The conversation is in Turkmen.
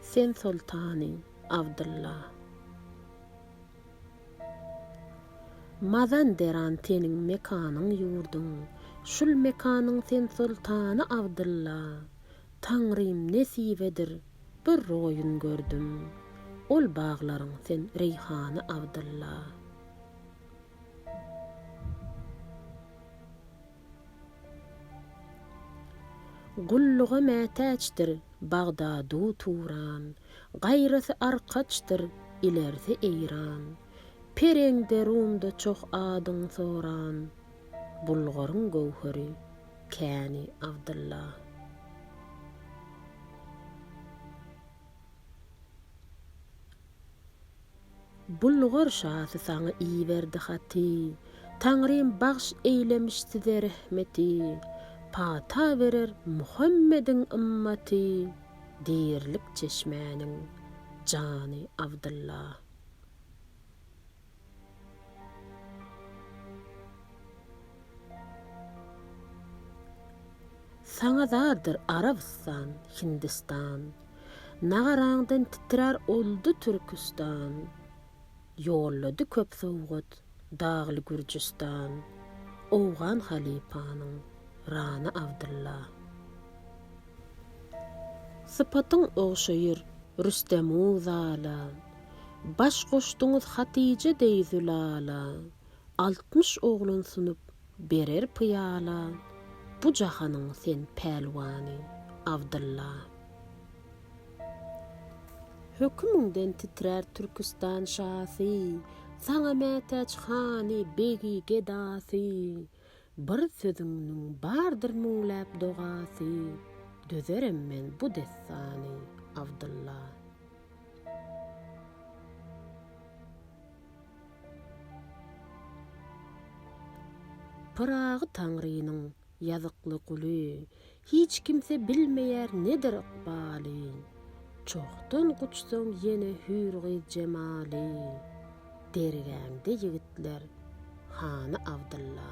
Sen soltany, Abdylla. Mazanderan seniň mekanyň ýurduň, şul mekanyň sen soltany Abdylla. Taňrym nesibedir bir roýun gördüm, ol baglaryň sen reýhany Abdylla. Gulluga mätäçdir Bagdadu Turan, Gaýrasy arkaçdyr, ilerisi Eýran. Pereňde, Rumda çoh adyň soran, Bulgaryň göwheri, käni Abdylla. Bulgar şasy saňa iberdi haty, Taňrym bagş eýlemiş size rehmeti, Pata berer Muhammediň ymmaty, Dirilik çeşmäniň jany Abdylla. Saňa zardyr Arabystan, Hindistan, Nagaraňdan titrär oldy Türküstan. Ýollady köp sowgat Dagly Gürjüstan, Owgan halypanyň Rana Abdylla. Sypatyň ogşaýyr Rüstem-u zala. Baş goşduňyz Hatyja deý Zülala. Altmyş oglan sunup berer pyýala. Bu jahanyň sen pälwany, Abdylla. Hökümiňden titrär Türküstan şasy, Saňa mätäç hany, begi, gedasy. Bir sözüňniň bardyr müňläp dogasy, Dözerem men bu dessany, Abdylla. Pyragy Taňrynyň ýazykly guly, Hiç kimse bilmeýär nedir ykbalyn. Çohdan guçsaň ýene hüýr gyz jemalyn. Dergäňde ýigitler, hany Abdylla.